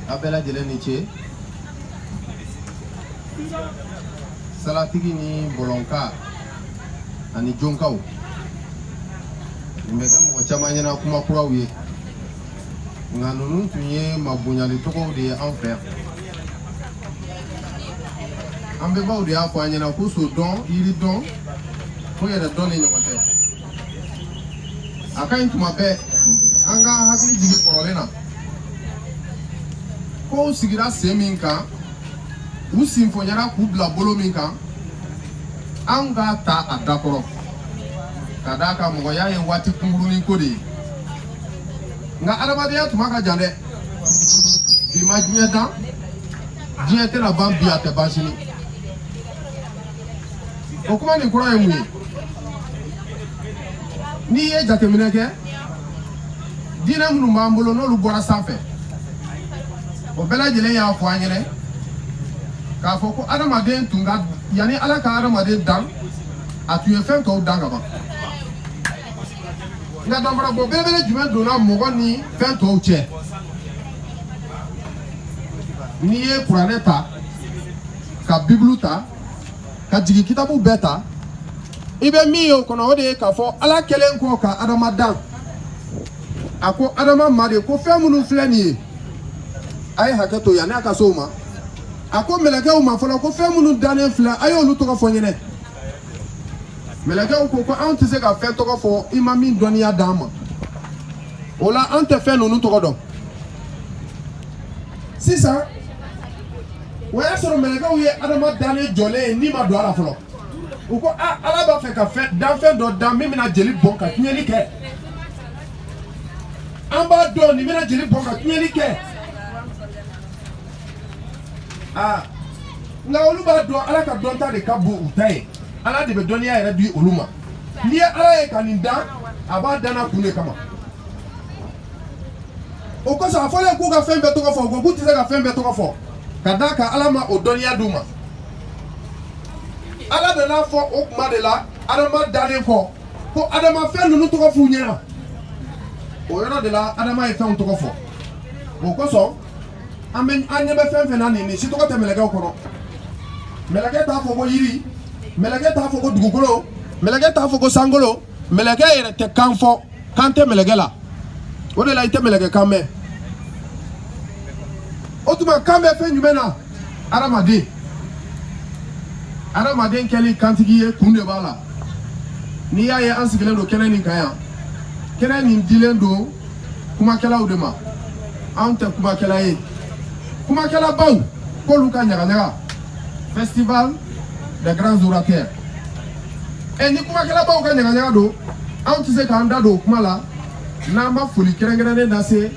a bɛɛ lajɛlen ni ce salatigi ni bɔlɔnka ani jonkaw nin bɛ kɛ mɔgɔ caman ɲɛna kuma kuraw ye nka ninnu tun ye mabonyali tɔgɔw de ye an fɛ an bɛnbaw de y'a fɔ an ɲɛna ko so dɔn yiri dɔn ko yɛrɛ dɔn de ɲɔgɔn tɛ a ka ɲi tuma bɛɛ an ka hakili jigin kɔrɔlen na kow sigira sen min kan u sinfonyara k'u bila bolo min kan an k'a ta a dakɔrɔ ka d'a kan mɔgɔya ye waati kunkurunin ko de ye nka adamadenya tuma ka jan dɛ bi ma diɲɛ dan diɲɛ tɛna ban bi a tɛ ban sini o kuma nin kura ye mun ye n'i ye jateminɛ kɛ diinɛ minnu b'an bolo n'olu bɔra sanfɛ o bɛɛ lajɛlen y'a fɔ an ɲɛnɛ k'a fɔ ko adamaden tun ka yanni ala ka adamaden dan a tun ye fɛn tɔw dan ka ban nka danfarabɔ belebele jumɛn donna mɔgɔ ni fɛn tɔw cɛ n'i ye kuranɛ ta ka bibulu ta ka jigin kitabu bɛɛ ta i bɛ min ye o kɔnɔ o de ye k'a fɔ ala kɛlen kɔ ka adama dan a ko adama ma de ko fɛn minnu filɛ nin ye a ye hakɛ to yanni a ka se o ma a ko mɛlɛkɛw ma fɔlɔ ko fɛn minnu dannen filɛ a y'olu tɔgɔ fɔ n ɲɛnɛ mɛlɛkɛw ko ko an tɛ se ka fɛn tɔgɔ fɔ i ma min dɔnniya d'an ma o la an tɛ fɛn ninnu tɔgɔ dɔn sisan o y'a sɔrɔ mɛlɛkɛw ye Adama dannen jɔlen ye ni ma don a la fɔlɔ u ko a Ala b'a fɛ ka fɛn danfɛn dɔ dan min bɛna jeli bɔn ka tiɲɛli kɛ an b'a dɔn nin bɛna jeli bɔn ka tiɲɛli kɛ aa nka olu b'a dɔn Ala ka dɔnta de ka bon u ta ye Ala de bɛ dɔnniya yɛrɛ di olu ma n'i ye Ala ye ka nin dan a b'a dan na kun de kama o kosɔn a fɔlen k'u ka fɛn bɛɛ tɔgɔ fɔ u k'u tɛ se ka fɛn bɛɛ tɔgɔ fɔ ka d'a kan ala ma o dɔnniya d'u ma ala nan'a fɔ o tuma de la adama dalen kɔ ko adama fɛn ninnu tɔgɔ f'u ɲɛna o yɔrɔ de la adama ye fɛnw tɔgɔ fɔ o kosɔn an bɛ an ɲɛ bɛ fɛn fɛn na nin nin si tɔgɔ tɛ mɛlɛkɛw kɔnɔ mɛlɛkɛ t'a fɔ ko yiri mɛlɛkɛ t'a fɔ ko dugukolo mɛlɛkɛ t'a fɔ ko sankolo mɛlɛkɛ yɛrɛ tɛ kan fɔ kan tɛ mɛlɛkɛ la o de la i tɛ mɛlɛkɛ kan mɛn o tuma kan bɛ fɛn jumɛn na adamaden adamaden kɛli kantigi ye kun de b'a la n'i y'a ye an sigilen don kɛnɛ nin kan yan kɛnɛ nin dilen don kumakɛlaw de ma anw tɛ kumakɛla ye kumakɛlabaw k'olu ka ɲagaɲaga festival des grands orateurs ɛ ni kumakɛlabaw ka ɲagaɲaga don anw tɛ se k'an da don o kuma la n'an ma foli kɛrɛnkɛrɛnnen lase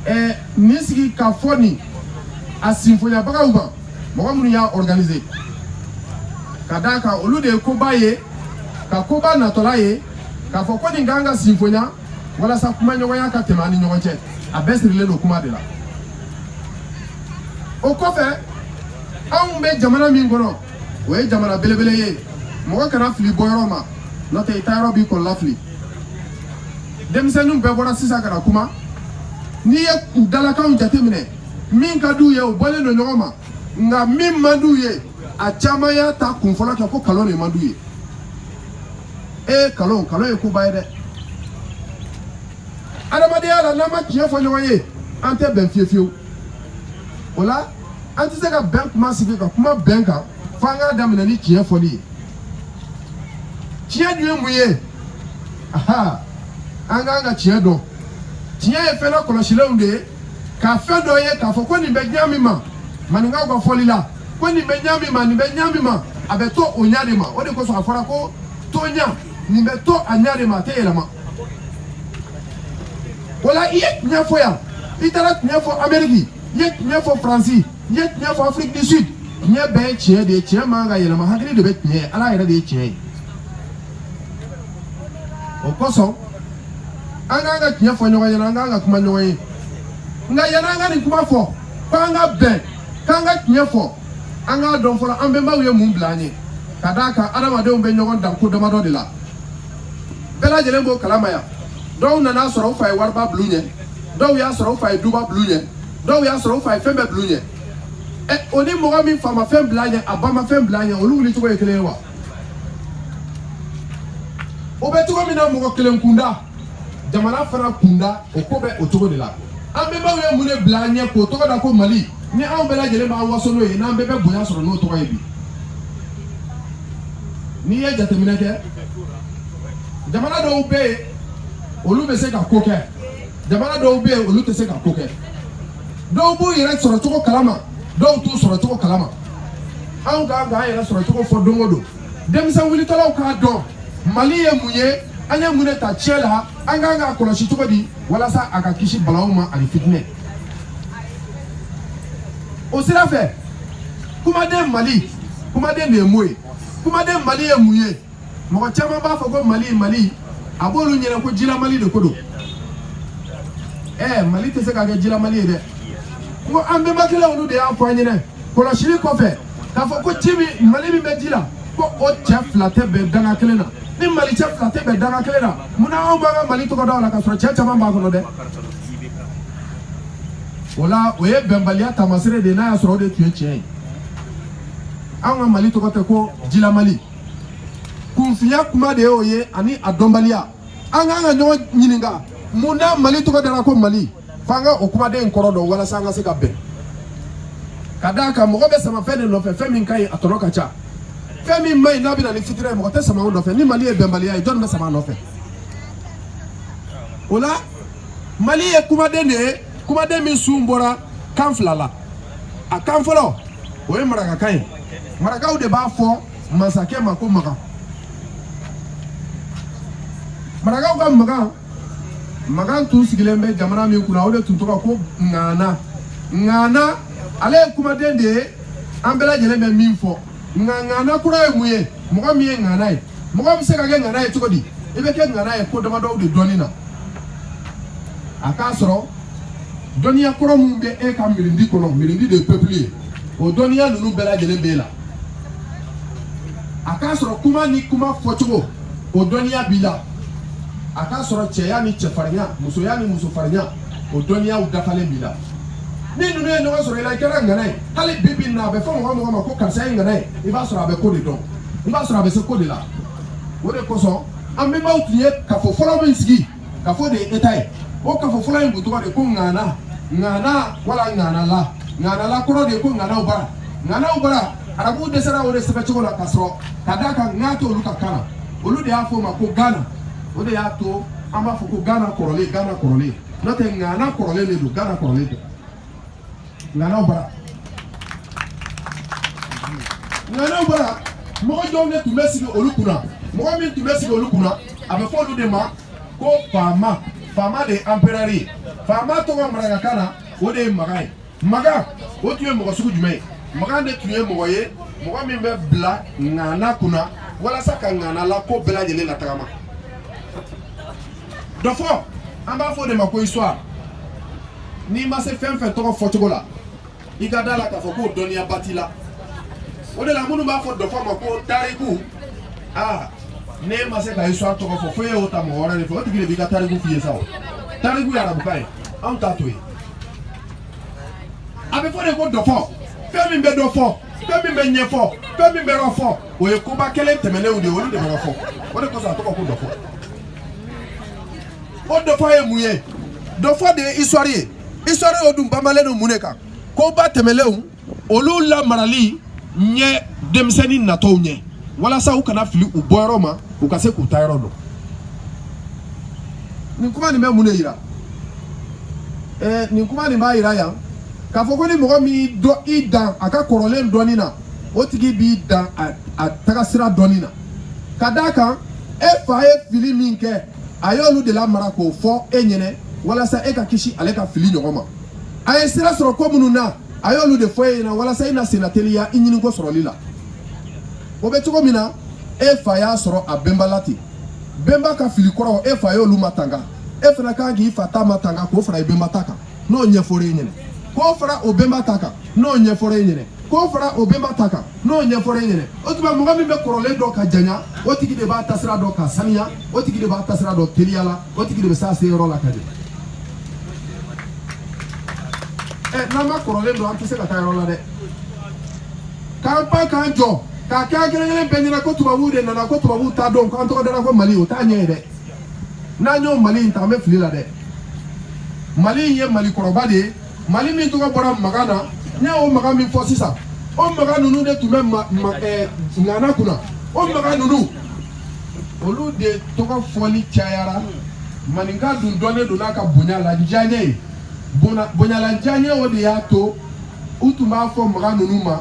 ɛ nin sigikafɔ nin a sinfonyabagaw ma mɔgɔ minnu y'a organise ka d'a kan olu de ye koba ye ka koba natɔla ye k'a fɔ ko nin k'an ka sinfonya walasa kumaɲɔgɔnya ka tɛmɛ an ni ɲɔgɔn cɛ a bɛɛ sirilen don kuma de la o kɔfɛ anw bɛ jamana min kɔnɔ o ye jamana belebele ye mɔgɔ kana fili bɔyɔrɔ ma n'o tɛ i taayɔrɔ b'i kɔnɔlafili denmisɛnninw bɛɛ bɔra sisan ka na kuma n'i ye u dalakanw jateminɛ min ka d'u ye o bɔlen don ɲɔgɔn ma nka min man d'u ye a caman y'a ta kunfɔlɔ kɛ ko kalon de man d'u ye ee kalon kalon ye koba ye dɛ adamadenya la n'an ma tiɲɛ fɔ ɲɔgɔn ye an tɛ bɛn fiyewu fiyewu o la an tɛ se ka bɛn kuma sigi ka kuma bɛn kan fo an k'a daminɛ ni tiɲɛ fɔli ye tiɲɛ dun ye mun ye aha an k'an ka tiɲɛ dɔn tiɲɛ ye fɛn kɔlɔsilenw de ye ka fɛn dɔ ye k'a fɔ ko nin bɛ ɲa min ma maninkaw ka fɔli la ko nin bɛ ɲa min ma nin bɛ ɲa min ma a bɛ to o ɲa de ma o de kosɔn a fɔra ko toɲa nin bɛ to a ɲa de ma a tɛ yɛlɛma o la i ye tiɲɛ fɔ yan i taara tiɲɛ fɔ ameriki i ye tiɲɛ fɔ faransi i ye tiɲɛ fɔ afrique du sud tiɲɛ bɛɛ ye tiɲɛ de ye tiɲɛ man ka yɛlɛma hakili de bɛ tiɲɛ ye ala yɛrɛ de ye tiɲɛ ye o kosɔn an k'an ka tiɲɛ fɔ ɲɔgɔn ɲɛna an k'an ka kuma ɲɔgɔn ye nka yanni an ka nin kuma fɔ k'an ka bɛn k'an ka tiɲɛ fɔ an k'a dɔn fɔlɔ an bɛnbaw ye mun bila an ye ka d'a kan adamadenw bɛ ɲɔgɔn dan ko damadɔ de la bɛɛ lajɛlen b'o kalama yan dɔw nan'a sɔrɔ u fa ye wariba bil'u ɲɛ dɔw y'a sɔrɔ u fa ye duba bil'u ɲɛ dɔw y'a sɔrɔ u fa ye fɛn bɛɛ bil'u ɲɛ ɛ o ni mɔgɔ min fa ma fɛn bil'a ɲɛ a ba ma fɛn bil'a ɲɛ olu wuli cogo ye kelen ye wa o bɛ cogo min na mɔgɔ kelen kunda jamana fana kunda o ko bɛ o cogo de la an bɛnbaw ye mun de bila an ɲɛ k'o tɔgɔ da ko mali ni anw bɛɛ lajɛlen b'an waso n'o ye n'an bɛɛ bɛ bonya sɔrɔ n'o tɔgɔ ye bi n'i ye jateminɛ kɛ jamana dɔw bɛ yen olu bɛ se ka ko kɛ jamana dɔw bɛ yen olu tɛ se ka ko kɛ dɔw b'u yɛrɛ sɔrɔcogo kalama dɔw t'u sɔrɔcogo kalama anw kan k'an yɛrɛ sɔrɔcogo fɔ don o don denmisɛn wulitɔlaw k'a dɔn mali ye mun ye an ye mun de ta tiɲɛ la an kan k'a kɔlɔsi cogo di walasa a ka kisi balawu ma ani fitinɛ o sira fɛ kumaden mali kumaden de ye mun ye kumaden mali ye mun ye mɔgɔ caman b'a fɔ ko mali mali a b'olu ɲɛna ko jila mali de ko don ɛɛ mali tɛ se ka kɛ jila mali ye dɛ ko an bɛnbakɛla olu de y'a fɔ an ɲɛna kɔlɔsili kɔfɛ k'a fɔ ko ci min mali min bɛ ji la ko o cɛ fila tɛ bɛn danga kelen na ni mali cɛ fila tɛ bɛn danga kelen na munna anw b'an ka mali tɔgɔ da o la k'a sɔrɔ cɛ caman b'a kɔnɔ dɛ o la o ye bɛnbaliya taamasere de ye n'a y'a sɔrɔ o de tun ye tiɲɛ ye anw ka mali tɔgɔ tɛ ko jila mali kunfinya kuma de y'o ye ani a dɔnbaliya an kan ka ɲɔgɔn ɲininka munna mali tɔgɔ dara ko mali f'an ka o kumaden kɔrɔ dɔn walasa an ka se ka bɛn ka d'a kan mɔgɔ bɛ sama fɛn de nɔfɛ fɛn min ka ɲi a tɔnɔ ka ca fɛn min man ɲi n'a bɛ na ni fitinɛ ye mɔgɔ tɛ sama o nɔfɛ ni mali ye bɛnbaliya ye jɔn bɛ sama a nɔfɛ o la mali ye kumaden de ye kumaden min sun bɔra kan fila la a kan fɔlɔ o ye marakakan ye marakaw de b'a fɔ masakɛ ma ko magan marakaw ka magan magan tun sigilen bɛ jamana min kunna o de tun tɔgɔ ko ŋana ŋana ale ye kumaden de ye an bɛɛ lajɛlen bɛ min fɔ nka ŋana kura ye mun ye mɔgɔ min ye ŋana ye mɔgɔ bɛ se ka kɛ ŋana ye cogo di i bɛ kɛ ŋana ye ko damadɔw de dɔnni na a k'a sɔrɔ dɔnniya kɔrɔ min bɛ e ka mirindi kɔnɔ mirindi de ye peuple ye o dɔnniya ninnu bɛɛ lajɛlen b'e la a k'a sɔrɔ kuma ni kuma fɔcogo o dɔnniya b'i la a k'a sɔrɔ cɛya ni cɛfarinya musoya ni musofarinya o dɔnniyaw dafalen b'i la ni ninnu ye ɲɔgɔn sɔrɔ i la i kɛra ŋana ye hali bi bi in na a bɛ fɔ mɔgɔ mɔgɔ ma ko karisa ye ŋana ye i b'a sɔrɔ a bɛ ko de dɔn i b'a sɔrɔ a bɛ se ko de la o de kosɔn an bɛnbaw tun ye kafo fɔlɔ min sigi kafo de ye état ye o kafo fɔlɔ in tun tɔgɔ de ko ŋana ŋana wala ŋanala ŋanala kɔrɔ de ye ko ŋanaw bara ŋanaw bara arabuw dɛsɛra o de sɛbɛncogo la ka sɔrɔ ka d'a kan ŋa t'olu ka kan na olu de y'a fɔ o ma ko gana o de y'a to an b'a fɔ ko gana kɔrɔlen gana kɔrɔlen n'o tɛ ŋana kɔrɔlen de don gana kɔrɔlen tɛ ŋanaw bara ŋanaw bara mɔgɔ jɔnw de tun bɛ sigi olu kunna mɔgɔ min tun bɛ sigi olu kunna a bɛ fɔ olu de ma ko faama faama de ye anperɛri ye faama tɔgɔ marakakan na o de ye maga ye maga o tun ye mɔgɔ sugu jumɛn ye maga de tun ye mɔgɔ ye mɔgɔ min bɛ bila ŋana kunna walasa ka ŋana la ko bɛɛ lajɛlen latagama dɔfɔ an b'a fɔ o de ma ko histoire n'i ma se fɛn fɛn tɔgɔ fɔcogo la i ka da la k'a fɔ k'o dɔnniyaba t'i la o de la minnu b'a fɔ dɔfɔ ma ko tariku aa n'e ma se ka histoire tɔgɔ fɔ fo e y'o ta mɔgɔ wɛrɛ de fɛ o tigi de b'i ka tariku f'i ye sa o tariku ye arabukan ye anw ta t'o ye a bɛ fɔ de ko dɔfɔ fɛn min bɛ dɔfɔ fɛn min bɛ ɲɛfɔ fɛn min bɛ dɔfɔ o ye koba kɛlen tɛmɛnenw de ye olu de bɛ dɔfɔ o de kosɔn a tɔgɔ ko dɔfɔ o dɔfɔ ye mun ye dɔfɔ de ye histoire ye histoire o dun banbalen don mun de kan koba tɛmɛnlenw olu lamarali ɲɛ denmisɛnnin natɔw ɲɛ walasa u kana fili u bɔyɔrɔ ma u ka se k'u taayɔrɔ dɔn nin kuma nin bɛ mun de yira ɛɛ nin kuma nin b'a yira yan k'a fɔ ko ni mɔgɔ min y'i dɔn i dan a ka kɔrɔlen dɔnni na o tigi b'i dan a tagasira dɔnni na ka d'a kan e fa ye fili min kɛ a y'olu de lamara k'o fɔ e ɲɛnɛ walasa e ka kisi ale ka fili ɲɔgɔn ma a ye sira sɔrɔ ko minnu na a y'olu de fɔ e ɲɛna walasa i na senna teliya i ɲininko sɔrɔli la o bɛ cogo min na e fa y'a sɔrɔ a bɛnba la ten bɛnba ka fili kɔrɔ e fa y'olu matanga e fana kan k'i fa ta matanga k'o fara i bɛnba ta kan n'o ɲɛfɔra e ɲɛna k'o fara o bɛnba ta kan n'o ɲɛfɔra e ɲɛna k'o fara o bɛnba ta kan n'o ɲɛfɔra e ɲɛna o tuma mɔgɔ min bɛ kɔrɔlen dɔn ka janya o tigi de b'a taasira dɔn ka saniya o tigi de b'a taasira dɔn teliya la o tigi de bɛ s'a seyɔrɔ la ka ɲɛ ɛ n'an ma kɔrɔlen dɔn an tɛ se ka taa yɔrɔ la dɛ k'an pan k'an jɔ k'a kɛ an kelen kelen bɛɛ ɲɛna ko tubabuw de nana ko tubabuw taadon k'an tɔgɔ dara ko mali o t'a ɲɛ ye dɛ n'an y'o mali in ta an bɛ fili la dɛ mali in ye mali kɔrɔba de ye mali min tɔgɔ bɔra magan na n y'o magan min fɔ sisan o magan ninnu de tun bɛ ŋana kunna o magan ninnu olu de tɔgɔ fɔli cayara maninka dun dɔnnen don n'a ka bonya ladiyaɲɛ ye bonya ladiyaɲɛ o de y'a to u tun b'a fɔ magan ninnu ma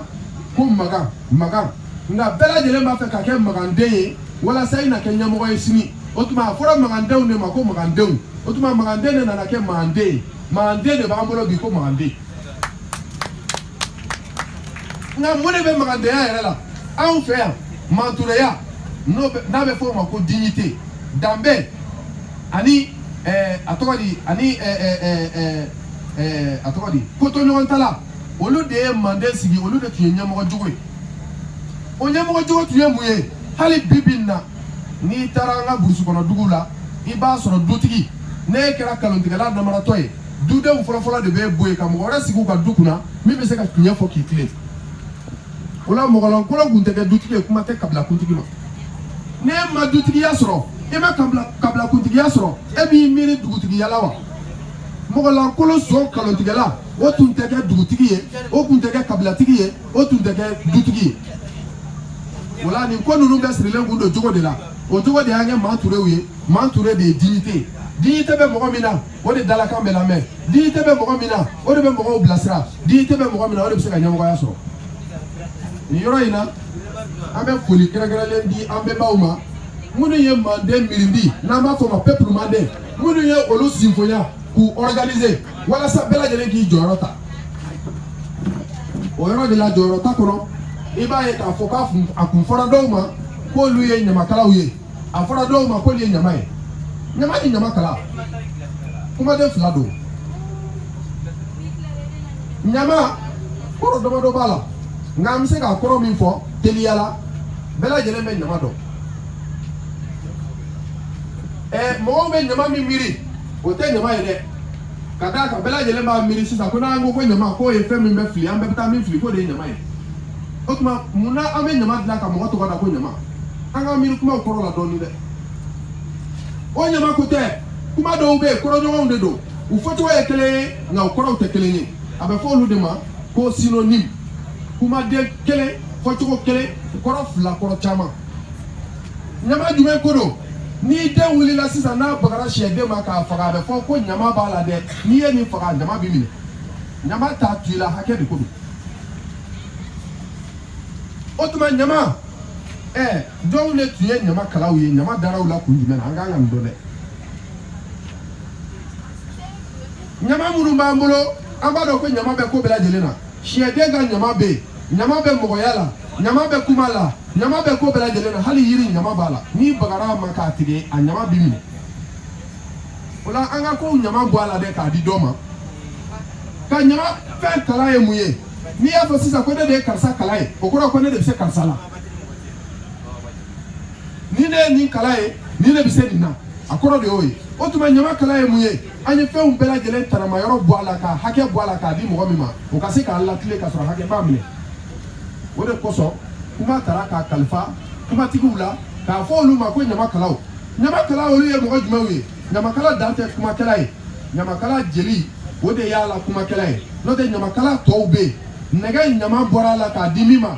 ko magan magan nka bɛɛ lajɛlen b'a fɛ ka kɛ maganden ye walasa i na kɛ ɲɛmɔgɔ ye sini o tuma a fɔra magandenw de ma ko magandenw o tuma maganden de nana kɛ manden ye maganden de b'an bolo bi ko maganden nka mun de bɛ magandenya yɛrɛ la anw fɛ yan mantureya n'o bɛ n'a bɛ fɔ o ma ko dignité danbe ani ɛɛ a tɔgɔ di ani ɛɛ ɛɛ ɛɛ ɛɛ a tɔgɔ di kotoɲɔgɔntala olu de ye manden sigi olu de tun ye ɲɛmɔgɔ jogo ye o ɲɛmɔgɔ jogo tun ye mun ye hali bi bi na n'i taara an ka burusi kɔnɔ dugu la i b'a sɔrɔ dutigi n'e kɛra kalontigɛla namaratɔ ye dudenw fɔlɔfɔlɔ de b'e bɔ yen ka mɔgɔ wɛrɛ sigi u ka du kunna min bɛ se ka tiɲɛ fɔ k'i tilen o la mɔgɔlankolon kun tɛ kɛ dutigi ye kuma tɛ kabilakuntigi ma n'e ma dutigiya sɔrɔ e ma kabilakuntigiya sɔrɔ e b'i miiri dugutigiya la wa mɔgɔlankolon son kalontigɛla o tun tɛ kɛ dugutigi ye o tun tɛ kɛ kabilatigi ye o tun tɛ kɛ dutigi ye o la nin ko ninnu bɛɛ sirilen kun don jogo de la o jogo de y'an kɛ manturew ye manture de ye dignité ye dignité bɛ mɔgɔ min na o de dalakan bɛ lamɛn dignité bɛ mɔgɔ min na o de bɛ mɔgɔw bilasira dignité bɛ mɔgɔ min na o de bɛ se ka ɲɛmɔgɔya sɔrɔ nin yɔrɔ in na an bɛ foli kɛrɛnkɛrɛnlen di an bɛnbaw ma minnu ye manden mirindi n'an b'a fɔ o ma peuple manden minnu ye olu sinfonya k'u organiser walasa bɛɛ lajɛlen k'i jɔyɔrɔ ta o yɔrɔ de la jɔyɔrɔ ta kɔnɔ i b'a ye k'a fɔ k'a kun a kun fɔra dɔw ma k'olu ye ɲamakalaw ye a fɔra dɔw ma k'olu ye ɲama ye ɲama ni ɲamakala kumaden fila don ɲama kɔrɔ damadɔ b'a la nka an bɛ se k'a kɔrɔ min fɔ teliya la bɛɛ lajɛlen bɛ ɲama dɔn ɛɛ mɔgɔw bɛ ɲama min miiri o tɛ ɲama ye dɛ ka d'a kan bɛɛ lajɛlen b'a miiri sisan ko n'an ko ko ɲama k'o ye fɛn min bɛ fili an bɛɛ bɛ taa min fili k'o de ye ɲama ye o tuma mun na an bɛ ɲama dilan ka mɔgɔ tɔgɔ da ko ɲama an k'an miiri kumaw kɔrɔ la dɔɔnin dɛ o ɲama ko tɛ kuma dɔw bɛ yen kɔrɔɲɔgɔnw de don u fɔcogo ye kelen ye nka u kɔrɔw tɛ kelen ye a bɛ fɔ olu de ma ko synonyme kumaden kelen fɔcogo kelen kɔrɔ fila kɔrɔ caman ɲama jumɛn ko don n'i den wulila sisan n'a bagara sɛden ma k'a faga a bɛ fɔ ko ɲama b'a la dɛ n'i ye nin faga ɲama b'i minɛ ɲama t'a to i la hakɛ de ko don o tuma ɲama ɛɛ jɔnw de tun ye ɲamakalaw ye ɲama dara u la kun jumɛn na an kan ka nin dɔn dɛ ɲama minnu b'an bolo an b'a dɔn ko ɲama bɛ ko bɛɛ lajɛlen na sɛden ka ɲama bɛ yen ɲama bɛ mɔgɔya la ɲama bɛ kuma la ɲama bɛ ko bɛɛ lajɛlen na hali yiri ɲama b'a la n'i bagara a ma k'a tigɛ a ɲama b'i minɛ o la an ka kow ɲama bɔ a la dɛ k'a di dɔ ma ka ɲama fɛn kala ye mun ye n'i y'a fɔ sisan ko ne de ye karisa kala ye o kɔrɔ ko ne de bɛ se karisa la ni ne ye nin kala ye ne de bɛ se nin na a kɔrɔ de y'o ye o tuma ɲama kala ye mun ye an ye fɛnw bɛɛ lajɛlen tanama yɔrɔ bɔ a la ka hakɛ bɔ a la k'a di mɔgɔ min ma o ka se k'a latilen ka sɔrɔ hakɛ b'a minɛ o de kosɔn kuma tara k'a kalifa kumatigiw la k'a fɔ olu ma ko ɲamakalaw ɲamakala olu ye mɔgɔ jumɛnw ye ɲamakala dan tɛ kumakɛla ye ɲamakala jeli o de y'a la kumakɛla ye n'o tɛ ɲamakala tɔw bɛ yen nɛgɛ ɲama bɔra a la k'a di min ma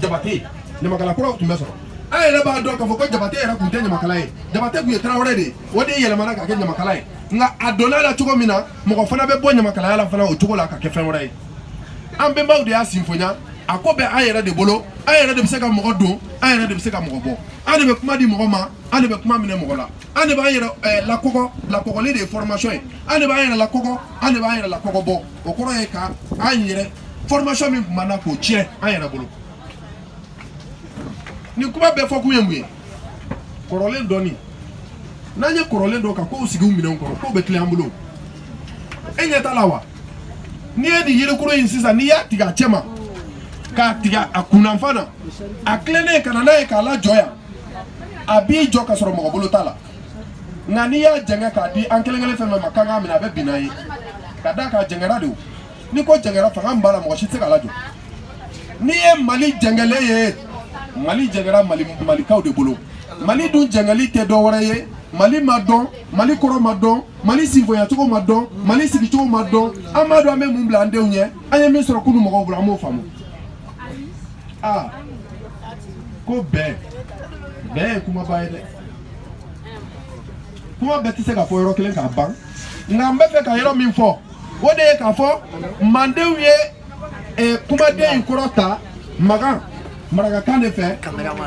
jabate ɲamakala kuraw tun bɛ sɔrɔ an yɛrɛ b'a dɔn k'a fɔ ko jabate yɛrɛ tun tɛ ɲamakala ye jabate tun ye tarawele de ye o de yɛlɛmana ka kɛ ɲamakala ye nka a donna a la cogo min na mɔgɔ fana bɛ bɔ ɲamakalaya la fana o cogo la ka kɛ fɛn wɛrɛ ye an bɛnbaw de y'a sinfonya a ko bɛ an yɛrɛ de bolo an yɛrɛ de bɛ se ka mɔgɔ don an yɛrɛ de bɛ se ka mɔgɔ bɔ an de bɛ kuma di mɔgɔ ma an de bɛ kuma minɛ mɔgɔ la an de b'an yɛrɛ eh, lakɔgɔ lakɔgɔli de ye formation ye an de b'an yɛrɛ lakɔgɔ an de b'an yɛrɛ lakɔgɔ bɔ o kɔrɔ ye ka an yɛrɛ formation min tun b'an na k'o tiɲɛ an yɛrɛ bolo nin kuma bɛɛ fɔkun ye mun ye kɔrɔlen dɔnni n'an ye kɔrɔlen dɔn ka kow sigi u minɛnw kɔrɔ kow bɛ tilen an bolo e ɲɛ t'a la wa n'i ye nin yirikoro in sisan n'i y'a tigɛ a cɛ ma k'a tigɛ a kunnafan na a tilennen ka na n'a ye k'a lajɔ yan a b'i jɔ ka sɔrɔ mɔgɔ bolo t'a la nka n'i y'a jɛngɛ k'a di an kelen kelen fɛn fɛn ma k'an k'a minɛ a bɛ bin n'a ye ka d'a kan a jɛngɛra de o ni ko jɛngɛra fanga min b'a la mɔgɔ si tɛ se k'a lajɔ n'i ye mali jɛngɛlen ye mali jɛngɛra malikaw de bolo mali dun jɛngɛli tɛ dɔ wɛrɛ ye mali ma dɔn mali kɔrɔ ma dɔn mali sinfonyacogo ma dɔn mali sigicogo ma dɔn an m'a dɔn an bɛ mun bila an denw ɲɛ an ye min sɔrɔ kunu mɔgɔw bolo an m'o faamu aa ko bɛn bɛn ye kumaba ye dɛ kuma bɛɛ tɛ se ka fɔ yɔrɔ kelen k'a ban nka n bɛ fɛ ka yɔrɔ min fɔ o de ye k'a fɔ mandenw ye eh, kumaden in kɔrɔ ta magan marakakan de fɛ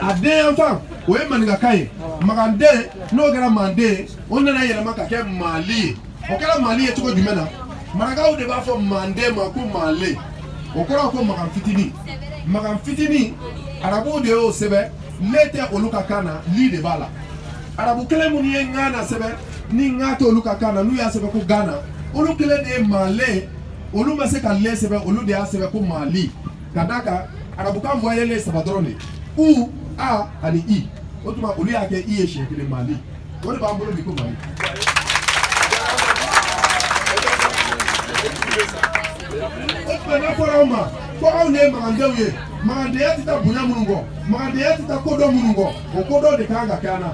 a den yanfan o ye maninkakan ye maganden n'o kɛra manden ye o nana yɛlɛma ka kɛ mali ye o kɛra mali ye cogo jumɛn na marakaw de b'a fɔ manden ma ko male o kɔrɔ ko magan fitini magan fitini arabuw de y'o sɛbɛn le tɛ olu ka kan na li de b'a la arabu kelen minnu ye ŋana sɛbɛn ni ŋa tɛ olu ka kan na n'u y'a sɛbɛn ko Ghana olu kelen de ye Male olu ma se ka le sɛbɛn olu de y'a sɛbɛn ko Mali ka d'a kan arabukan voyelle saba dɔrɔn de u a ani i o tuma olu y'a kɛ i ye siɲɛ kelen Mali o de b'an bolo bi ko Mali. o tuma n'a fɔra anw ma ko anw de ye magandenw ye magandenya tɛ taa bonya minnu kɔ magandenya tɛ taa kodɔn minnu kɔ o kodɔn de kan ka kɛ an na.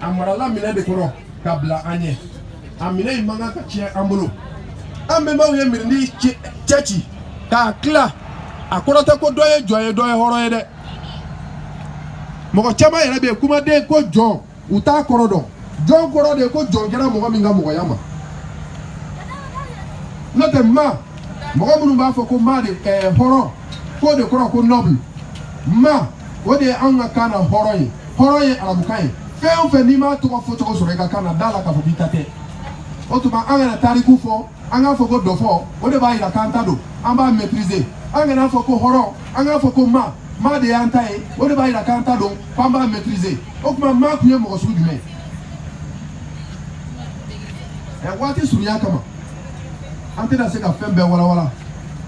a marala minɛ de kɔrɔ ka bila an ɲɛ a minɛ in man kan ka tiɲɛ an bolo an bɛnbaw ye mirindi cɛci k'a tila a kɔrɔ tɛ ko dɔ ye jɔn ye dɔ ye hɔrɔn ye dɛ mɔgɔ caman yɛrɛ bɛ yen kumaden ko jɔn u t'a kɔrɔ dɔn jɔn kɔrɔ de ye ko jɔn kɛra mɔgɔ min ka mɔgɔya ma n'o tɛ ma mɔgɔ minnu b'a fɔ ko ma de ɛɛ hɔrɔn k'o de kɔrɔ ko noble ma o de ye anw ka kan na hɔrɔn ye hɔrɔn ye arabukan ye fɛn o fɛn n'i m'a tɔgɔ fɔ cogo sɔrɔ i ka kan na da la k'a fɔ k'i ta tɛ o tuma an kana tariku fɔ an k'a fɔ ko dɔfɔ o de b'a yira k'an ta don an b'a maîtriser an kan'a fɔ ko hɔrɔn an k'a fɔ ko ma ma de y'an ta ye o de b'a yira k'an ta don k'an b'a maîtriser o tuma ma tun ye mɔgɔ sugu jumɛn ye waati surunya kama an tɛna se ka fɛn bɛɛ walawala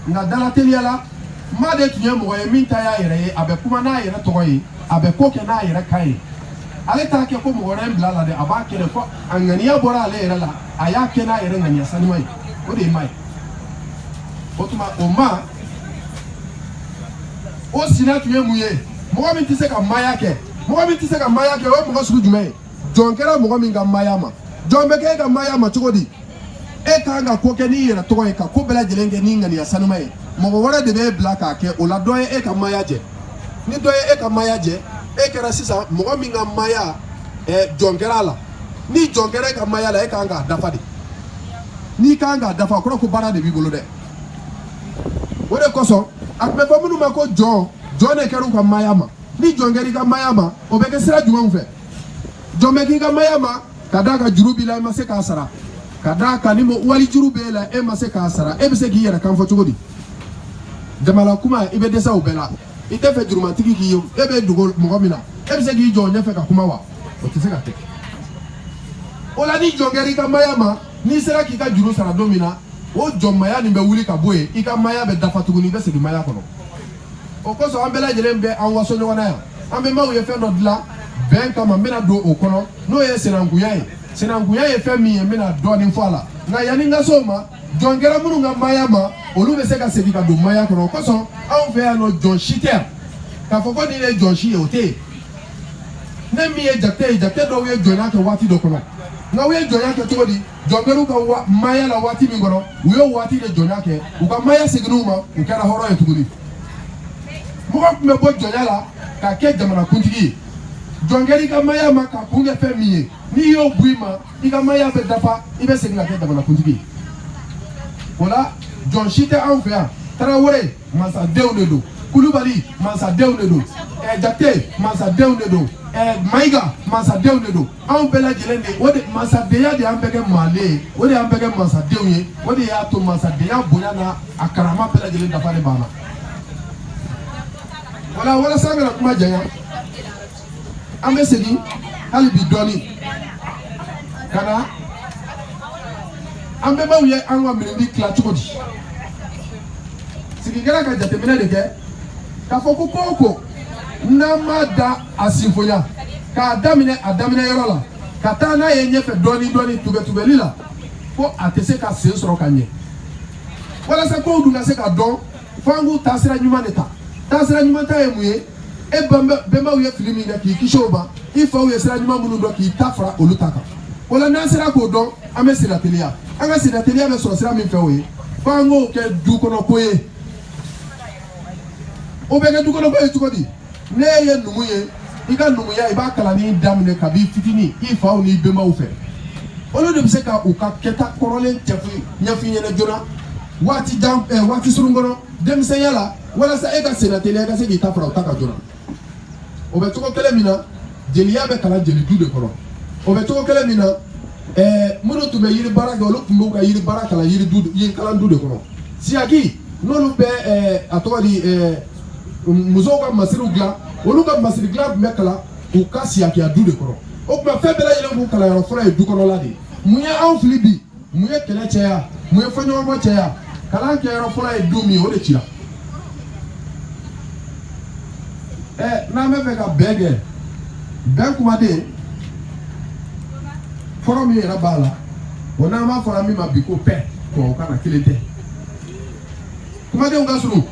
nka dalateliya la ma de tun ye mɔgɔ ye min ta y'a yɛrɛ ye a bɛ kuma n'a yɛrɛ tɔgɔ ye a bɛ ko kɛ n'a yɛrɛ kan ye ale t'a kɛ ko mɔgɔ wɛrɛ ye n bila a la dɛ a b'a kɛ de ko a ŋaniya bɔra ale yɛrɛ la a y'a kɛ n'a yɛrɛ ŋaniya sanuma ye o de ye ma ye o tuma o ma o sina tun ye mun ye mɔgɔ min tɛ se ka maaya kɛ mɔgɔ min tɛ se ka maaya kɛ o ye mɔgɔ sugu jumɛn ye jɔn kɛra mɔgɔ min ka maaya ma jɔn bɛ kɛ e ka maaya ma cogo di e ka kan ka ko kɛ n'i yɛrɛ tɔgɔ ye ka ko bɛɛ lajɛlen kɛ n'i ŋaniya sanuma ye mɔgɔ wɛrɛ de bɛ e bila k'a kɛ o la dɔ ye e ka maaya jɛ ni dɔ ye e ka maaya jɛ e kɛra sisan mɔgɔ min ka maaya eh, jɔn kɛra a la ni jɔn kɛra e ka maaya la e ka kan k'a dafa de n'i ka kan k'a dafa o kɔrɔ ko baara de b'i bolo dɛ o de kosɔn a tun bɛ fɔ minnu ma ko jɔn jɔn de kɛra u ka maaya ma ni jɔn kɛra i ka maaya ma o bɛ kɛ sira jumɛnw fɛ jɔn bɛ k'i ka maaya ma ka d'a kan juru b'i la i ma se k'a sara ka d'a kan ni wali juru b'e la e ma se k'a sara e bɛ se k'i yɛrɛ kan fɔ cogo di jama na kuma i bɛ dɛsɛ o bɛɛ la i t'a fɛ jurumatigi k'i ye e bɛ dogo mɔgɔ min na e bɛ se k'i jɔ o ɲɛfɛ ka kuma wa o tɛ se ka kɛ o la ni jɔn kɛra i ka maaya ma n'i sera k'i ka juru sara don min na o jɔnmaya nin bɛ wuli ka bɔ yen i ka maaya bɛ dafa tuguni i bɛ segin maaya kɔnɔ o kosɔn an bɛɛ lajɛlen bɛ an waso ɲɔgɔn na yan an bɛnbaw ye fɛn dɔ dilan bɛn kama n bɛna don o kɔnɔ n'o ye sinankunya ye sinankunya ye fɛn min ye n bɛna dɔɔnin fɔ a la nka yanni n ka s'o ma jɔn kɛra minnu ka maaya ma olu bɛ se ka segin ka don maaya kɔnɔ o kosɔn anw fɛ yan nɔ jɔn si tɛ yan k'a fɔ ko nin de ye jɔn si ye o tɛ yen ne min ye jakite ye jakite dɔw ye jɔnya kɛ waati dɔ kɔnɔ nka u ye jɔnya kɛ cogo di jɔn kɛra u ka maaya la waati min kɔnɔ u ye waati de jɔnya kɛ u ka maaya seginnen u ma u kɛra hɔrɔn ye tuguni mɔgɔ tun bɛ bɔ jɔnya la ka kɛ jamanakuntigi ye jɔn kɛra i ka maaya ma k'a kun kɛ fɛn min ye n'i y'o bɔ i ma i ka maaya bɛ dafa i bɛ segin ka kɛ jamanakuntigi ye o la jɔn si tɛ anw fɛ yan tarawele masadenw de don kulubali masadenw de don eh, jate masadenw de don eh, mayiga masadenw de don anw bɛɛ lajɛlen de o de masadenya de y'an bɛɛ kɛ maale ye o de y'an bɛɛ kɛ masadenw ye o de y'a to masadenya bonya n'a karama bɛɛ lajɛlen dafa de b'an na wala walasa an kana kuma janya an bɛ segin hali bi dɔɔni ka na an bɛnbaw ye an ka miirili tila cogo di sigi kɛra ka jateminɛ de kɛ k'a fɔ ko ko o ko n'an m'a da a sinfoya k'a daminɛ a daminɛ yɔrɔ la ka taa n'a ye ɲɛfɛ dɔɔni dɔɔni tubɛtubɛli la ko a tɛ se ka sen sɔrɔ ka ɲɛ walasa kow dun ka se ka dɔn fo an k'o taasira ɲuman de ta taasira ɲuman ta ye mun ye e bɛnbaw ye fili min kɛ k'i kisi o ma i faw ye sira ɲuman minnu dɔn k'i ta fara olu ta kan o la n'an sera k'o dɔn an bɛ senna teliya an ka sennateliya bɛ sɔrɔ sira min fɛ o ye fo an k'o kɛ du kɔnɔ ko ye o bɛ kɛ du kɔnɔ ko ye cogo di ne ye numu ye i ka numuya i b'a kalanni daminɛ kabi fitini i faw n'i bɛnbaw fɛ olu de bɛ se ka u ka kɛta kɔrɔlen ɲɛf'i ɲɛf'i ɲɛna joona waati jan eh, waati surun kɔnɔ denmisɛnya la walasa e ka senna teliya ka se k'i ta fara u ta kan joona o bɛ cogo kelen min na jeliya bɛ kalan jeli du de kɔnɔ o bɛ cogo kelen min na eh, minnu tun bɛ yiri baara kɛ olu tun b'u ka yiri baara kalan yiri du yiri kalan du de kɔnɔ siyaki n'olu bɛ eh, a tɔgɔ di eh, musow ka masiriw dilan olu ka masiri dilan tun bɛ kalan u ka siyakiya du de kɔnɔ o tuma fɛn bɛɛ lajɛlen k'u kalanyɔrɔ fɔlɔ ye du kɔnɔla de ye mun ye anw fili bi mun ye kɛlɛ caya mun ye fɔɲɔgɔnkɔ caya kalan kɛyɔrɔ fɔlɔ ye du min ye o de cira ɛ n'an bɛ fɛ ka bɛn kɛ bɛn kumaden kɔrɔ min yɛrɛ b'a la o n'an b'a fɔra min ma bi ko paix tubabukan na kelen tɛ kumadenw ka surun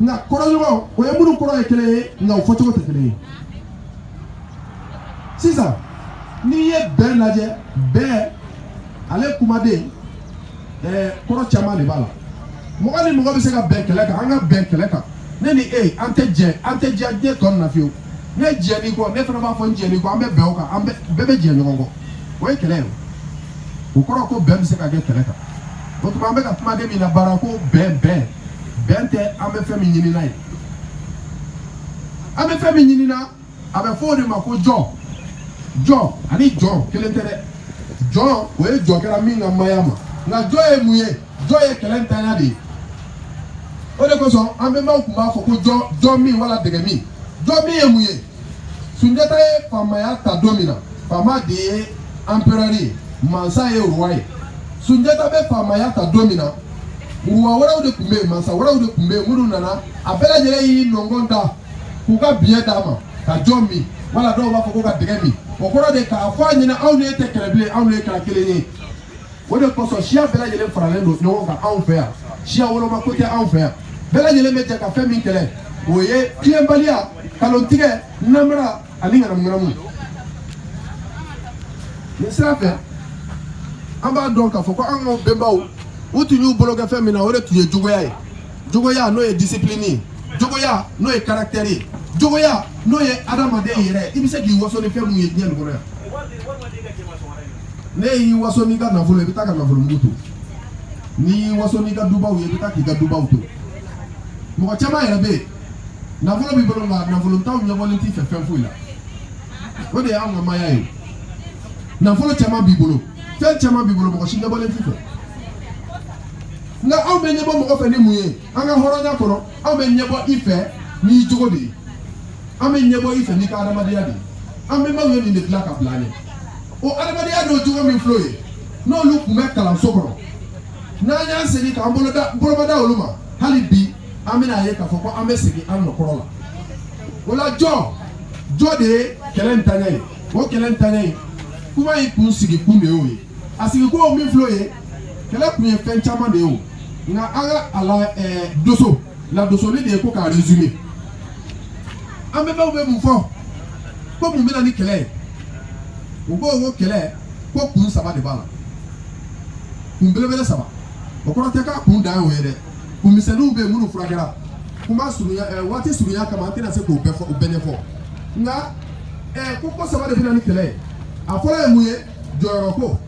nka kɔrɔɲɔgɔn o ye minnu kɔrɔ ye kelen ye nka o fɔcogo tɛ kelen ye sisan n'i ye bɛn lajɛ bɛn ale kumaden ɛɛ kɔrɔ caman de b'a la mɔgɔ ni mɔgɔ bɛ se ka bɛn kɛlɛ kan an ka bɛn kɛlɛ kan ne ni e an tɛ jɛ an tɛ jɛ diɲɛ tɔ nin na fiyewu ne jɛnn'i kɔ ne fana b'a fɔ n jɛnn'i kɔ an bɛ bɛn o kan an bɛɛ bɛ jɛ ɲɔgɔn kɔ o ye kɛlɛ ye o kɔrɔ ko bɛn bɛ se ka kɛ kɛlɛ kan o tuma an bɛ ka kumaden min labaara ko bɛn bɛn bɛn tɛ an bɛ fɛn min ɲinina ye an bɛ fɛn min ɲinina a bɛ fɔ o de ma ko jɔ jɔ ani jɔn kelen tɛ dɛ jɔn o ye jɔ kɛra min ka maaya ma nka jɔ ye mun ye jɔ ye kɛlɛ ntanya de ye o de kosɔn an bɛnbaw tun b'a fɔ ko jɔ jɔ min wala dɛgɛ min jɔ min ye mun ye sunjata ye faamaya ta don min na faama de ye anperɛri ye mansa ye ruwa ye sunjata bɛ faamaya ta don min na ruwa wɛrɛw de tun bɛ yen mansa wɛrɛw de tun bɛ yen minnu nana a bɛɛ lajɛlen y'i nɔngɔn da k'u ka biɲɛ d'a ma ka jo min wala dɔw b'a fɔ ko ka dɛgɛ min o kɔrɔ de k'a fɔ a ɲɛ na anw ni e tɛ kɛlɛ bilen anw ni e kɛra kelen ye o de kosɔn siya bɛɛ lajɛlen faralen don ɲɔgɔn kan anw fɛ yan siya woloma ko tɛ anw fɛ yan bɛɛ lajɛlen bɛ jɛ ka fɛn min kɛlɛ o ye tiɲɛbaliya kalontigɛ namara ani ŋanamuŋanamu nin sira fɛ an b'a dɔn k'a fɔ ko an ka bɛnbaw u tun y'u bolo kɛ fɛn min na o de tun ye jogoya ye jogoya n'o ye disipilini ye jogoya n'o ye karaktɛri ye jogoya n'o ye adamaden yɛrɛ i bɛ se k'i waso ni fɛn min ye diɲɛ nin kɔnɔ yan n'e y'i waso n'i ka nafolo i bɛ taa ka nafolomugu to n'i y'i waso n'i ka dubaw ye i bɛ taa k'i ka dubaw to mɔgɔ caman yɛrɛ bɛ yen nafolo b'i bolo nka nafolontanw ɲɛbɔlen t'i fɛ fɛn foyi la o de y'an ka maaya ye nafolo caman b'i bolo fɛn caman b'i bolo mɔgɔ si ɲɛbɔlen t'i fɛ nka anw bɛ ɲɛbɔ mɔgɔ fɛ ni mun ye an ka hɔrɔnya kɔnɔ anw bɛ ɲɛbɔ i fɛ n'i jogo de ye an bɛ ɲɛbɔ i fɛ n'i ka adamadenya de ye an bɛnbaw ye nin de dilan ka bila an ɲɛ o adamadenya n'o jogo min filɛ o ye n'olu tun bɛ kalan so kɔnɔ n'an y'an segin k'an bolomada olu ma hali bi an bɛn'a ye k'a fɔ ko an bɛ segin an nɔ kɔrɔ la o la jɔnjɔn de ye kɛlɛntanya ye o kɛlɛntanya kuma in kun sigi kun de y'o ye a sigi kun y'o min filɛ o ye kɛlɛ kun ye fɛn caman de ye o nka an ka a la ɛɛ doso ladosoli de ye ko k'a resume an bɛnbaw bɛ mun fɔ ko mun bɛna ni kɛlɛ ye u ko ko kɛlɛ ko kun saba de b'a la kun belebele saba o kɔrɔ tɛ k'a kun dan y'o ye dɛ kun misɛnninw bɛ yen minnu furakɛra kuma surunya eh, waati surunya kama an tɛna se k'o bɛɛ fɔ u bɛɛ ɲɛfɔ nka eh, ko ko saba de bɛna ni kɛlɛ ye a fɔlɔ ye mun ye jɔyɔrɔ ko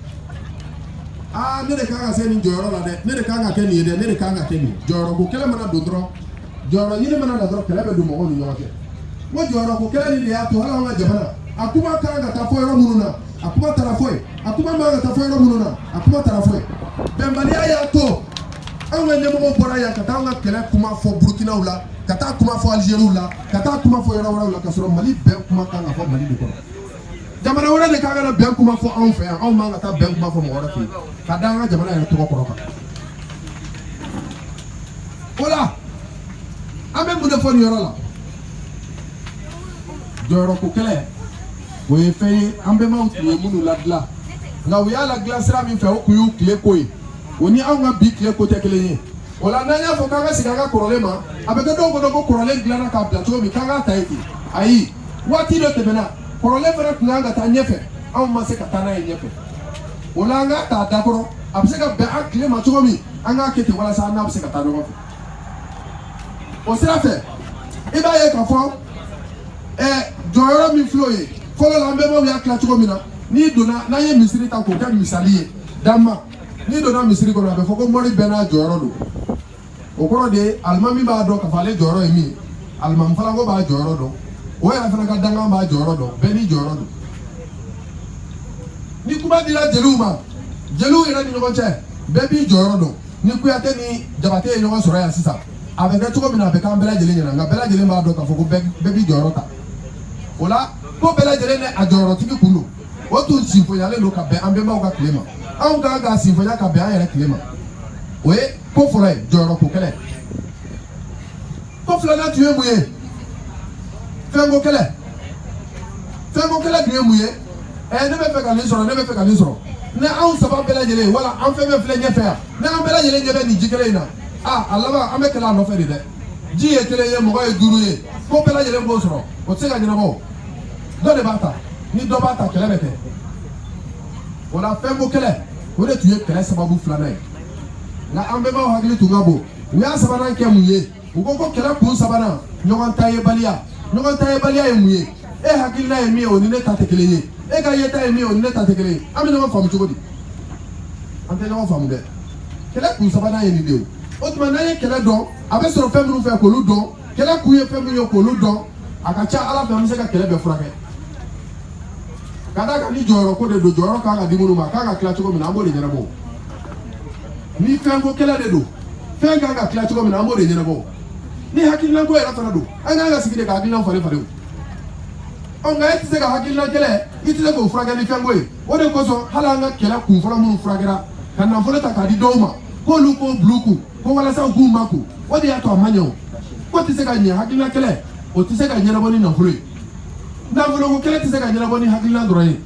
aa ne de kan ka se nin jɔyɔrɔ la dɛ ne de kan ka kɛ nin ye dɛ ne de kan ka kɛ nin jɔyɔrɔ ko kɛlɛ mana don dɔrɔn jɔyɔrɔ ɲini mana na dɔrɔn kɛlɛ bɛ don mɔgɔw ni ɲɔgɔn cɛ o jɔyɔrɔ ko kɛlɛ nin de y'a to hali an ka jamana a kuma ka kan ka taa fɔ yɔrɔ minnu na a kuma taara fɔ yen a kuma man ka taa fɔ yɔrɔ minnu na a kuma taara fɔ yen bɛnbaliya y'a to anw ka ɲɛmɔgɔw bɔra yan ka taa an ka kɛlɛ kuma fɔ burukinaw la ka taa kuma fɔ alizeriw la ka taa kuma fɔ yɔrɔ wɛrɛw la ka sɔrɔ mali bɛn kuma kan ka fɔ mali de kɔnɔ jamana wɛrɛ de kan ka na bɛn kuma fɔ anw fɛ yan anw man ka taa bɛn kuma fɔ mɔgɔ wɛrɛ fɛ yen ka da an ka jamana yɛrɛ tɔgɔ kɔrɔ kan o la an bɛ mun de fɔ nin yɔrɔ la jɔyɔrɔko kɛlɛ o ye fɛn ye an bɛnbaw tun ye minnu ladilan nka u y'a ladilan sira min fɛ o tun y'u tile ko ye o ni anw ka bi tile ko tɛ kelen ye O la n'an y'a fɔ k'an ka segin an ka kɔrɔlen ma a bɛ kɛ dɔw kɔnɔ ko kɔrɔlen dilanna k'a bila cogo min k'an k'a ta ye ten ayi waati dɔ tɛmɛna kɔrɔlen fana tun kan ka taa ɲɛfɛ anw ma se ka taa n'a ye ɲɛfɛ o la an k'a ta a dakɔrɔ a bɛ se ka bɛn an tile ma cogo min an k'a kɛ ten walasa an n'a bɛ se ka taa ɲɔgɔn fɛ o sira fɛ i b'a ye k'a fɔ ɛ jɔyɔrɔ min filɛ o ye fɔlɔ la an bɛnbaw y'a tila cogo min na n'i donna n'an ye misiri ta k'o kɛ misali ye dama n'i donna misiri kɔnɔ a bɛ fɔ ko mori bɛɛ n'a jɔyɔrɔ don o kɔrɔ de ye alimami b'a dɔn k'a fɔ ale jɔyɔrɔ ye min ye alimami falanko b'a jɔyɔrɔ dɔn o yɛrɛ fana ka dankan b'a jɔyɔrɔ dɔn bɛɛ n'i jɔyɔrɔ don ni kuma dira jeliw ma jeliw yɛrɛ ni ɲɔgɔn cɛ bɛɛ b'i jɔyɔrɔ dɔn ni kuyate ni jabate ye ɲɔgɔn sɔrɔ yan sisan a bɛ kɛ cogo min na a bɛ k'an bɛɛ lajɛlen ɲɛna nka bɛɛ lajɛlen b'a dɔn k'a fɔ ko bɛɛ b'i jɔyɔrɔ ta o la ko bɛɛ lajɛlen ni a jɔyɔrɔtigi tun don o tun sinfonyalen don ka bɛn an bɛnbaw ka tile ma anw kan k'a sinfonya ka bɛn an yɛrɛ tile ma o ye ko fɔlɔ ye jɔyɔrɔ ko kɛlɛ ko filanan tun ye mun ye fɛnko kɛlɛ fɛnko kɛlɛ tun ye mun ye ɛɛ ne bɛ fɛ ka nin sɔrɔ ne bɛ fɛ ka nin sɔrɔ ni anw saba bɛɛ lajɛlen wala an fɛn fɛn filɛ ɲɛfɛ yan ni an bɛɛ lajɛlen ɲɛ bɛ nin ji kelen in na a a laban an bɛ kɛlɛ a nɔfɛ de dɛ ji ye kelen ye mɔgɔ ye duuru ye ko bɛɛ lajɛlen b'o sɔrɔ o tɛ se ka ɲɛnabɔ dɔ de b'a ta ni dɔ b'a ta kɛlɛ bɛ kɛ o la fɛnko kɛlɛ o de tun ye kɛlɛ sababu filanan ye nka an bɛnbaw hakili tun ka bon u y'a sabanan kɛ mun ye u ko ko kɛlɛ kun sabanan ɲɔgɔn ta yebaliya ɲɔgɔn ta yebaliya ye mun ye e hakilina ye min ye o ni ne ta tɛ kelen ye e ka yeta ye min ye o ni ne ta tɛ kelen ye an bɛ ɲɔgɔn faamu cogo di an tɛ ɲɔgɔn faamu dɛ kɛlɛ kun sabanan ye nin de ye o tuma n'an ye kɛlɛ dɔn a bɛ sɔrɔ fɛn minnu fɛ k'olu dɔn kɛlɛ kun ye fɛn min ye k'olu dɔn a ka ca ala fɛ an bɛ se ka kɛlɛ bɛɛ furakɛ ka d'a kan ni jɔyɔrɔ ko de don jɔyɔrɔ kan ka di minnu ma a kan ka tila cogo min na an b'o de ɲɛnabɔ ni fɛnko kɛlɛ de don fɛn kan ka tila cogo min na an b'o de ɲɛnabɔ ni hakilinako yɛrɛ fana don an kan ka sigi de ka hakilina falen falen o nka e tɛ se ka hakilina kɛlɛ i tɛ se k'o furakɛ ni fɛnko ye o de kosɔn hali an ka kɛlɛ kun fɔlɔ minnu furakɛra ka nafolo ta k'a di dɔw ma k'olu k'o bil'u kun ko walasa u k'u makun o de y'a to a ma ɲɛ ko tɛ se ka ɲɛ hakilina kɛlɛ o tɛ se ka ɲɛnabɔ ni nafolo ye nafoloko kɛlɛ tɛ se ka ɲɛnabɔ ni hakilina dɔrɔn ye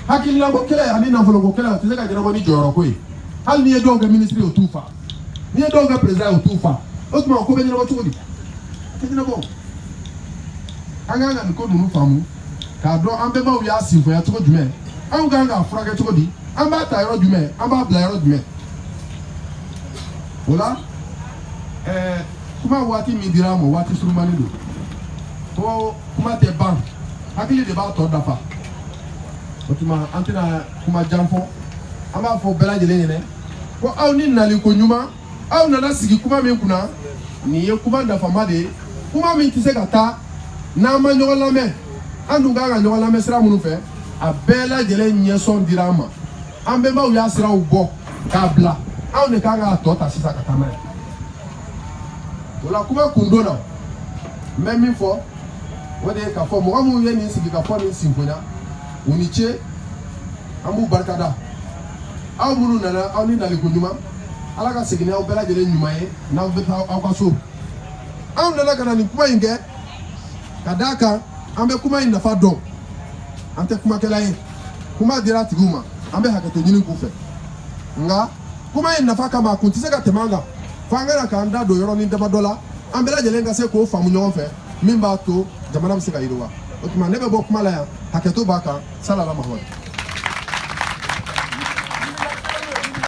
hakilinako kɛlɛ ani nafoloko kɛlɛ o tɛ se ka ɲɛnabɔ ni jɔyɔrɔko ye hali n'i ye dɔw kɛ minisiri o t'u fa n'i ye dɔw kɛ perezida o t'u fa o tuma ko bɛ ɲɛnabɔ cogo di a tɛ ɲɛnabɔ an kan ka nin ko ninnu faamu k'a dɔn an bɛnbaw y'a sinfonya cogo jumɛn anw kan k'a furakɛ cogo di an b'a ta yɔrɔ jumɛn an b'a bila yɔrɔ jumɛn o la ɛɛ kuma waati min dira an ma waati surunmani don ko kuma tɛ ban hakili de b'a tɔ dafa o tuma an tɛna kuma jan fɔ an b'a fɔ bɛɛ lajɛlen ɲɛna ko aw ni nali ko ɲuman aw nana sigi kuma min kunna nin ye kuma nafama de ye kuma min tɛ se ka taa n'an ma ɲɔgɔn lamɛn an dun kan ka ɲɔgɔn lamɛn sira minnu fɛ a bɛɛ lajɛlen ɲɛsɔn dira an ma an bɛnbaw y'a siraw bɔ k'a bila anw de kan k'a tɔ ta sisan ka taa n'a ye o la kuma kundon na n bɛ min fɔ o de ye k'a fɔ mɔgɔ minnu ye nin sigi ka fɔ nin sinfonya u ni ce an b'u barikada aw minnu nana aw ni naliko ɲuman ala ka segin n'aw bɛɛ lajɛlen ɲuman ye n'aw bɛ taa aw ka so anw nana ka na nin kuma in kɛ ka d'a kan an bɛ kuma in nafa dɔn an tɛ kumakɛla ye kuma dira a tigiw ma an bɛ hakɛto ɲini k'u fɛ nka kuma in nafa kama a kun tɛ se ka tɛmɛ an kan fo an ka na k'an da don yɔrɔnin damadɔ la an bɛɛ lajɛlen ka se k'o faamu ɲɔgɔn fɛ min b'a to jamana bɛ se ka yiriwa o tuma ne bɛ bɔ kuma la yan hakɛto b'a kan salala mahamadu